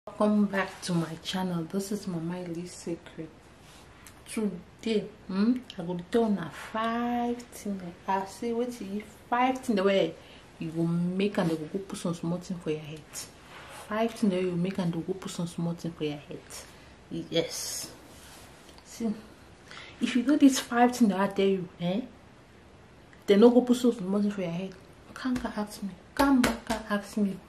welcome back to my channel this is mama Ely secret today hmm, i go tell una five things i say wetin you five things wey you go make and they go go put some small thing for your head five things wey you make and they go put some small thing for your head yes see if you do these five things that i tell you eh they no go put some small thing for your head come back ask me come back ask me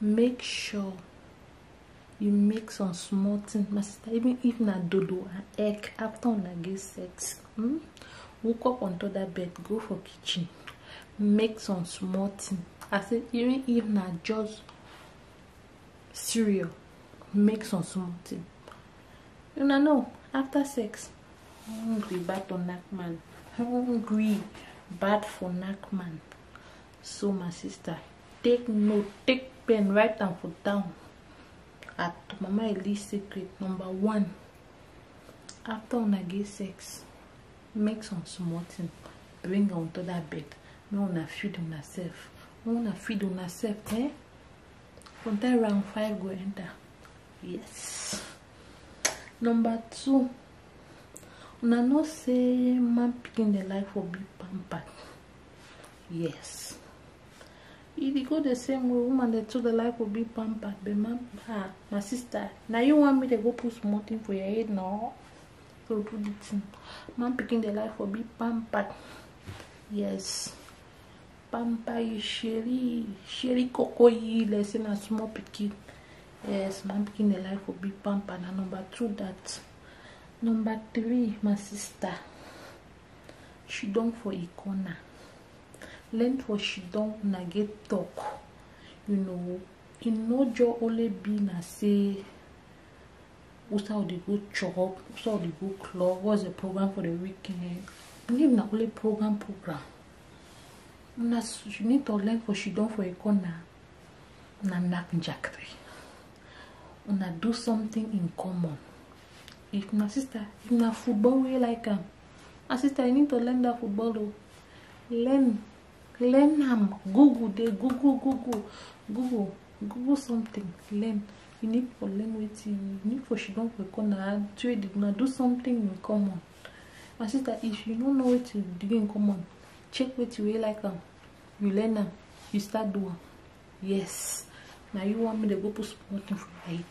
make sure you make some small things my sister even if na dodo and egg after una get sex hmm? woke up on top that bed go for kitchen make some small thing i say even if na just cereal make some small thing una know after sex hungry bad for knack man hungry bad for knack man so my sister take note take pen write am for down at mama eli secret number one after una get sex make some small thing bring am to that bed make una feed una sef make una feed una sef eh from that round five go enter yes number two una know say man pikin dey like for big pamper yes e dey go the same way woman dey too dey like to be pampered but my ah my sister na you want me to go put small thing for your head no go do the thing man pikin dey like for be pampered yes pamper you sheri sheri koko yi like say na small pikin yes man pikin dey like for be pampered na number two that number three my sister she don for a corner learn for she don una get talk you know e no just only be na say usa we dey go chop usa we dey go club what's the program for the weekend leave na only program program una she need to learn for she don for a corner una knack jackety una do something in common if na sister if na football wey like am my sister you need to learn that football o learn learn am google dey google google google google something learn you need for learn wetin you need for she don for corner trade na do something in common my sister if you no know wetin you do in common check wetin wey like am you learn am you start do am yes na you want me to go put small thing for your head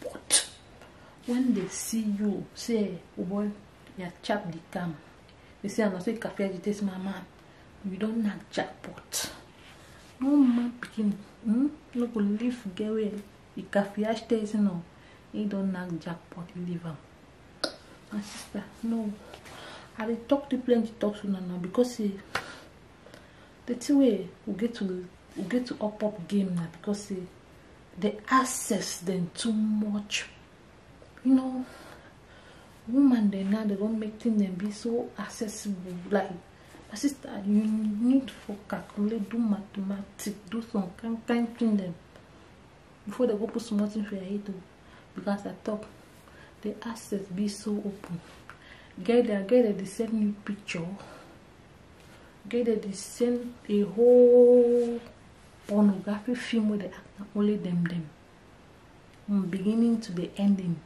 But when they see you, say, oh boy, you have chopped the gum. They say, I'm not saying cafe agitation, my man. You don't have jackpot. No man picking, hmm? No go leave get away. The cafe agitation, no. He don't have jackpot, leave him. My sister, no. I dey talk to plenty talk to now because say the thing wey we get to we get to up up game now because say the access then too much you know woman they now they don't make things them be so accessible like my sister you need for calculate do mathematics do some kind kind thing them before they go put small thing for your head too because i talk the access be so open get there get there they send me picture get there they send a whole pornographic film wey dey act na only dem dem from beginning to the ending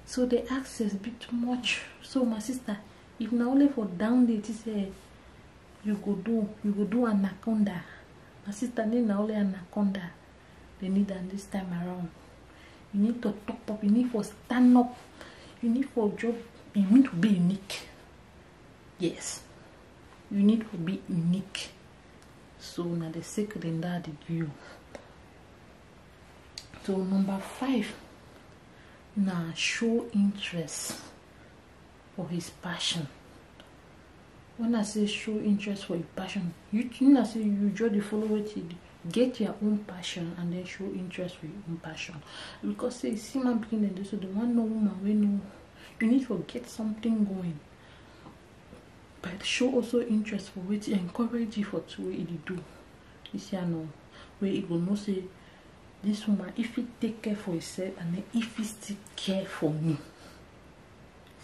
so the access be too much so my sister if na only for down there ti say you go do you go do anaconda my sister need na only anaconda they need am this time around you need to top up you need for stand up you need for job you need to be unique yes you need to be unique so na the secret in that you so number five now show interest for his passion when i say show interest for your passion you mean i say you just the follow wetin get your own passion and then show interest for your own passion because say see man begin dey do so the one no woman wey no you need to get something going but show also interest for wetin encourage you for two wey e dey do this year no wey e go know say this woman if he take care for himself and then if he still care for me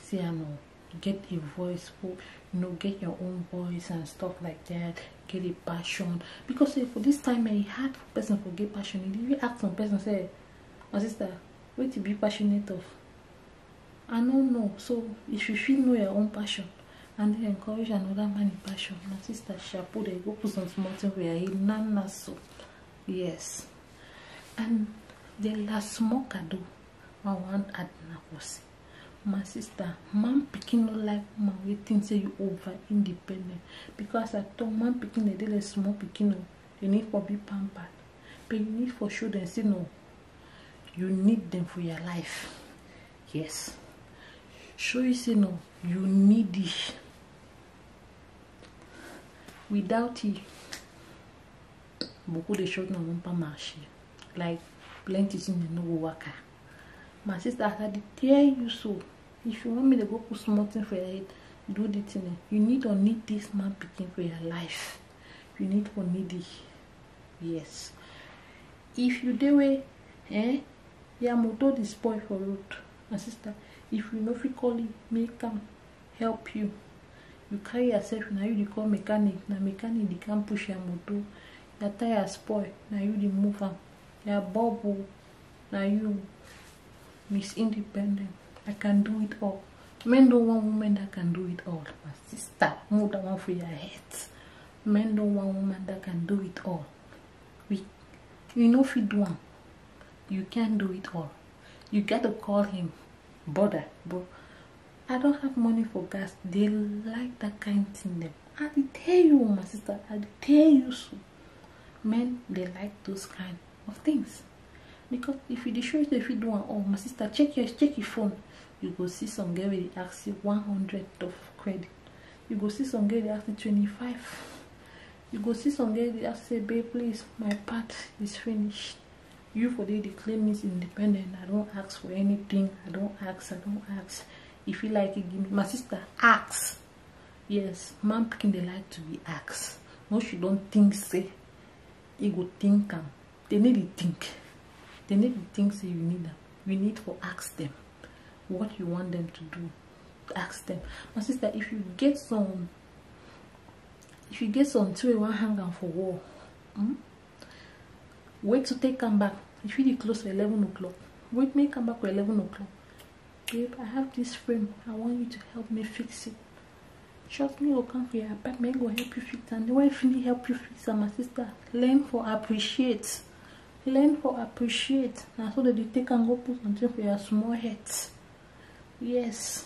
say i know get a voice for you know get your own voice and stuff like that get a passion because say for this time eh, e hard for person for get passion if you ask some person say my sister wetin be passionate of I no know. So if you feel know your own passion and you encourage another man in passion, my sister Shapu, they go put some small thing where he nana so. Yes. And the last small kado, I want add na kosi. My sister, man picking no like man we think say you over independent. Because I told man picking a little small picking no, you need for be pampered. But you need for show them say no, you need them for your life yes show you say no you need it without it boku dey short na one palm ashi like plenty things dey no go waka my sister as i dey tell you so if you want me to go put small thing for your head do the thing eh you need or need this man pikin for your life you need or need it yes if you dey wey eh your motor dey spoil for road my sister if you no fit call him make am help you you carry yourself na you dey call mechanic na mechanic dey come push your motor your tire spoil na you dey move am your bubble na you miss independent i can do it all men don want women that can do it all my sister move that one for your head men don want woman that can do it all we you no fit do am you can't do it all you get to call him brother bro i don't have money for gas they like that kind of thing them i dey tell you my sister i dey tell you so men they like those kind of things because if you dey show yourself if you do am oh my sister check your check your phone you go see some girl wey dey ask you one hundred of credit you go see some girl dey ask you twenty-five you go see some girls dey ask say babe please my part is finished you for dey dey claim me independent i don ask for anything i don ask i don ask if you like it give me my sister ask yes man picking dey like to be asked once you don think say e go think am they need to think they need to think say you need am you need to ask them what you want them to do ask them my sister if you get some if you get something wey you wan hang am for wall hmm? wait to take am back you fit dey close for eleven o'clock wait make am back for eleven o'clock babe i have this frame i want you to help me fix it trust me go come for your apartment go help you fix am the way finish help you fix am my sister learn for appreciate learn for appreciate na so dem dey take am go put something for your small head yes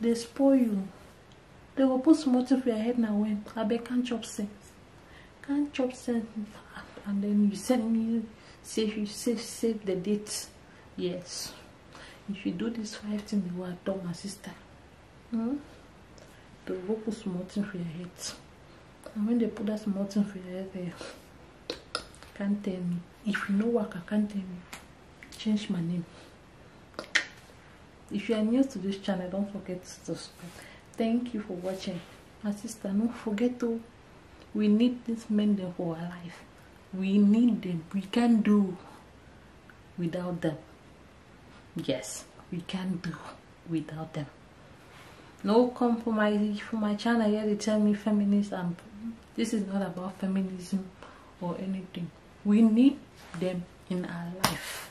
dey spoil you dey go put small thing for your head na when abeg can chop sense can chop sense and then you send me save you save save the date yes if you do this five thing you are done my sister hmm? dey go put small thing for your head and when they put that small thing for your head there can't tell me if you no work i can't tell me change my name if you are new to this channel don't forget to subscribe thank you for watching my sister no forget to we need this men them for our life we need them we can do without them yes we can do without them no compromise for my channel here they tell me feminist and this is not about feminism or anything we need them in our life